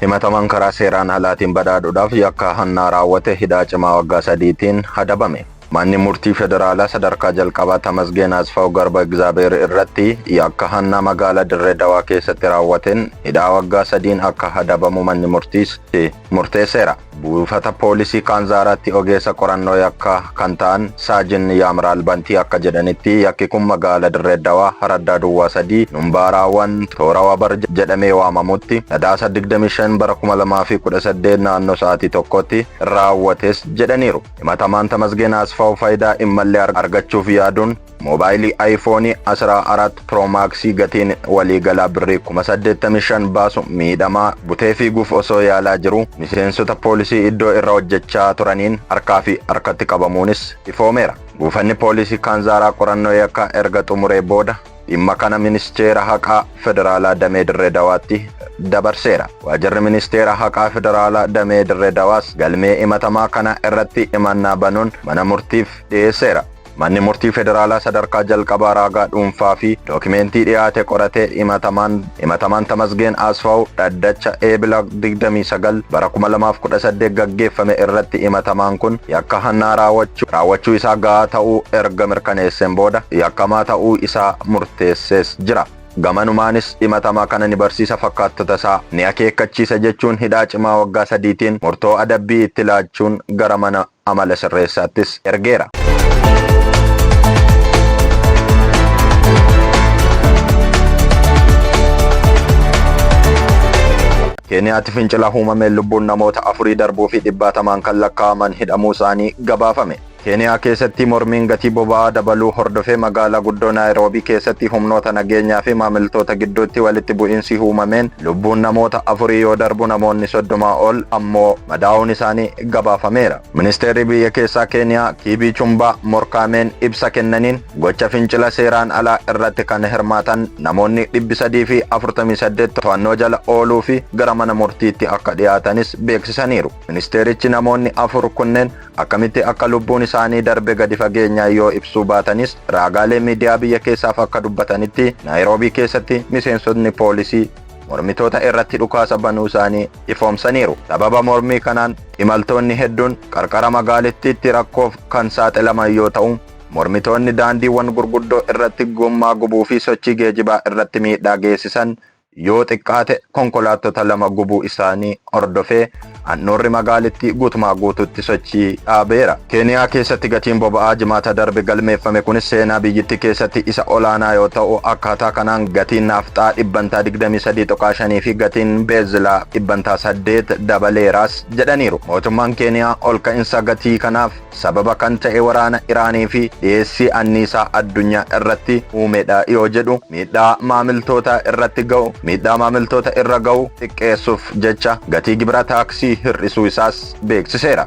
Himatamaan karaa seeraan alaatiin badhaadhuudhaaf yakka hannaa raawwate hidhaa cimaa waggaa sadiitiin adabame. Manni Murtii Federaalaa Sadarkaa Jalqabaa Tamasgeen Asfaaw Garba Igzaabeer irratti yakka hannaa magaalaa Dirree Dawaa keessatti raawwateen hidhaa waggaa sadiin akka adabamu manni murtiitti murteesseera. Buufata Poolisii Kaanzaaraatti ogeessa qorannoo yakkaa kan ta'an Saajin Yaamraal Bantii akka jedhanitti yakki kun magaala Dirree Dawaa Haraddaa Duwwaa 3 Numbaaraawan Toora Wabar jedhamee waamamutti Sadaasa 25 bara 2018 naannoo sa'aatii tokkotti raawwates jedhaniiru. Himatamaan Tamasgeen Asfaaw faayidaa hin malle argachuuf yaaduun moobaayilii Ayifoonii 14 Pro Max gatiin waliigalaa birrii 85,000 baasu miidhamaa butee fiiguuf osoo yaalaa jiru miseensota poolisii iddoo irra hojjechaa turaniin harkaa fi harkatti qabamuunis ifoomeera. Buufanni poolisii Kaanzaaraa qorannoo yakkaa erga xumuree booda Dhimma kana Ministeera Haqaa Federaalaa Damee Dirree Dawaatti dabarseera. Waajirri Ministeera Haqaa Federaalaa Damee Dirree Dawaas galmee himatamaa kana irratti himannaa banuun mana murtiif dhiyeesseera. Manni Murtii Federaalaa sadarkaa jalqabaa raagaa dhuunfaa fi dookimeentii dhiyaate qoratee himatamaan Himatamaan Tamasgeen Asfaw dhaddacha Eebila 29 bara 2018 gaggeeffame irratti himatamaan kun yakka hannaa raawwachuu raawwachuu isaa gahaa ta'uu erga mirkaneesseen booda yakkamaa ta'uu isaa murteessees jira. Gamanumaanis himatamaa kana ni barsiisa fakkaattota isaa ni akeekkachiisa jechuun hidhaa cimaa waggaa sadiitiin murtoo adabbii itti laachuun gara mana amala sirreessaattis ergeera. Keeniyaatti fincila uumameen lubbuun namoota afurii darbuu fi dhibbaatamaan kan lakkaa'aman hidhamuu isaanii gabaafame. Keeniyaa keessatti mormiin gatii boba'aa dabaluu hordofee magaalaa guddoo Naayiroobii keessatti humnoota nageenyaa fi maamiltoota gidduutti walitti bu'iinsi uumameen lubbuun namoota afurii yoo darbu namoonni soddomaa ol ammoo madaa'uun isaanii gabaafameera. Ministeerri biyya keessaa Keeniyaa Kiibii Chumbaa Morkaameen ibsa kennaniin gocha fincila seeraan alaa irratti kan hirmaatan namoonni 348 to'annoo jala ooluu fi gara mana murtiitti akka dhiyaatanis beeksisaniiru. Ministeerichi namoonni afur kunneen akkamitti akka lubbuun isaanii darbe gadi fageenyaan yoo ibsuu baatanis raagaalee miidiyaa biyya keessaaf akka dubbatanitti Naayiroobii keessatti miseensotni poolisii mormitoota irratti dhukaasa banuu isaanii ifoomsaniiru. Sababa mormii kanaan imaltoonni hedduun qarqara magaalittiitti rakkoof kan saaxilaman yoo ta'u, mormitoonni daandiiwwan gurguddoo irratti gommaa gubuu fi sochii geejibaa irratti miidhaa geessisan yoo xiqqaate konkolaattota lama gubuu isaanii hordofee Handhuurri magaalittii guutumaa guutuutti sochii dhaabeera. Keeniyaa keessatti gatiin boba'aa Jimaata darbe galmeeffame kun seenaa biyyittii keessatti isa olaanaa yoo ta'u, akkaataa kanaan gatiin naafxaa dhibbantaa 23.5 fi gatiin beenzilaa dhibbantaa 8 dabaleeraas jedhaniiru. Mootummaan Keeniyaa olka'insa gatii kanaaf sababa kan ta'e waraana Iraanii fi dhiyeessii anniisaa addunyaa irratti uumedha yoo jedhu miidhaa maamiltootaa irratti ga'u miidhaa maamiltoota irra ga'u xiqqeessuuf jecha gatii gibira taaksii hir'isuu isaas beeksiseera.